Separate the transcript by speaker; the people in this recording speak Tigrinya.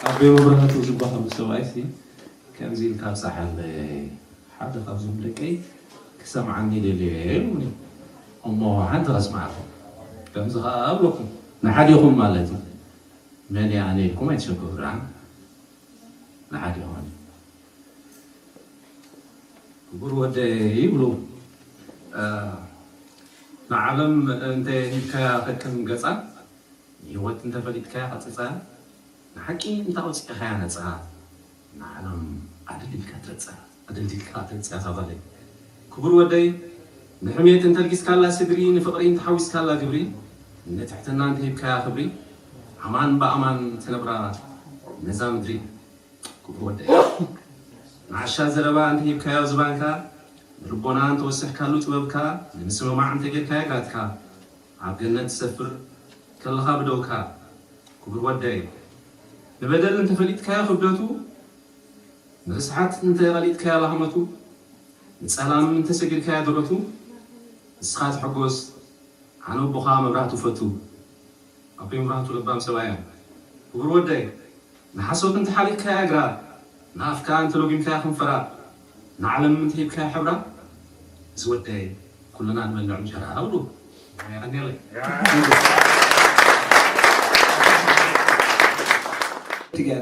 Speaker 1: ኣቤ መብራህቱ ዝበሃሉ ሰብኣይ ሲ ከምዚ ኢልካ ኣብፀሓለይ ሓደ ካብዞም ደቀይ ክሰምዓኒ ደልዮ እየ ኢሉኒ እሞ ሓንቲ ከስምዓኩም ከምዚ ከዓ ኣብለኩም ንሓዲኹም ማለት እዩ መን እየ ኣነ ኢልኩም ኣይትሸግሩ ደኣ ንሓዲኹም ክቡር ወደይ ይብሉ ንዓለም እንተ ሂብካያ ከቅን ገጻ ንህይወት እንተ ፈሊጥካያ ቀጽጻ ንሓቂ እንተ ኣውጺእኻያ ነጻ ንዓለም ኣደልዲልካ ትረጻ ኣደልዲልካ ትረጻ እዛ ጓለይ ክቡር ወደይ ንሕሜት እንተ ኣልጊስካላ ስድሪ ንፍቕሪ እንተ ሓዊስካላ ግብሪ ንትሕትና እንተ ሂብካያ ክብሪ ኣማን ብኣማን ትነብራ ነዛ ምድሪ ክቡር ወደይ ንዓሻ ዘረባ እንተሂብካዮ ዝባንካ ንልቦና እንተወሰሕካሉ ጥበብካ ንምስምማዕ እንተጌርካዮ ጋትካ ኣብ ገነት ትሰፍር ከለኻ ብደውካ ክቡር ወደይ ንበደል እንተፈሊጥካዮ ክብደቱ ንርስሓት እንተቐሊጥካዮ ላህመቱ ንጸላም እንተሰጊርካዮ ድረቱ ንስኻ ተሐጎስ ኣነ ኣቦኻ መብራህቱ ፈቱ ኣቦይ ምብራህቱ ለባም ሰብኣይ እዮም ክቡር ወደይ። ንሓሶት እንተ ሓሊኽካያ እግራ፣ ንኣፍካ እንተ ሎጊምካያ ከንፈራ፣ ንዓለም እንተ ሂብካያ ሕብራ፣ እዚ ወደይ ኩልና ንበልዕ እንጀራ እብሉ ሞያ የቀንየለይ።